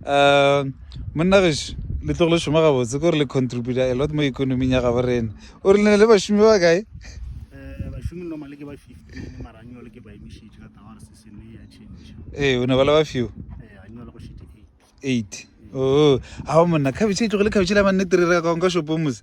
um monna geso le tlogo le šoma gabotse kore le contributa a lot mo economing ya gabo rena o re lene le bašomi ba kae ee o ne ba le ba few eight o ga ba monna khabetšhe e tlogo le khabetšhe la mannete re re ka konka shopong mose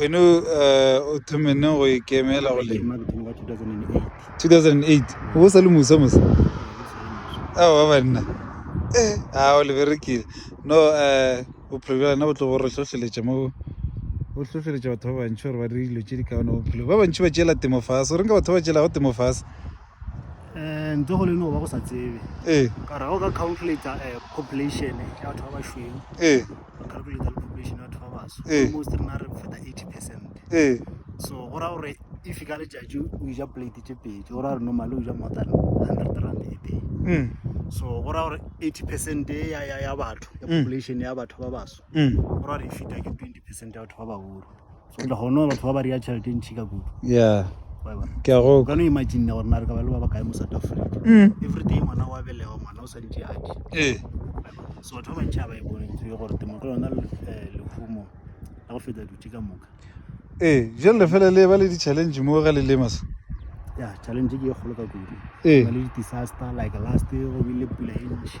wena uh, o thomenne go ikemela go lema 2008 o sa le mosa mosa ao ba banna eh a o leberekile no um bophelo bja lena bo tlo bo re hlohleletša mo bo hlohleletša batho ba bantši gore ba dire dilo tše di kaone bophelo ba bantši ba tšeela temo fase o reng ka batho ba tšeelago temo fase um ntho go le no ba go sa tsebe ee ka rago ka calculator um population ya batho ba bašweng ee go calculate le population ya batho ba baso ee. almost rena re feta 80 percent ee. so go raya gore if ka letšatši o ja plate tše pedi go raya gore normally o ja more than 100 rand a day mm. so go raya gore 80 percent ya batho ya mm. population ya batho ba baso mm. go raya gore e feta ke 20 percent ya batho ba bagolo le gone batho ba ba rea tšhelete ntšhi ka kudu ya ke a go ka no imagine gore na re ka ba le ba ba kae mo south africa mm. every day ngwana wa belega ngwana o sa ntše ake ee so batho ba bantšhi ga ba e bone ntho e gore temo ke yona eh, lehumo la go feta dutše ka moka ee jale fela le ba le di-challenge mo ga le lema se ya challenge ke e kgolo ka kudu ee. le di-disaster like last go bile pula e ntšhi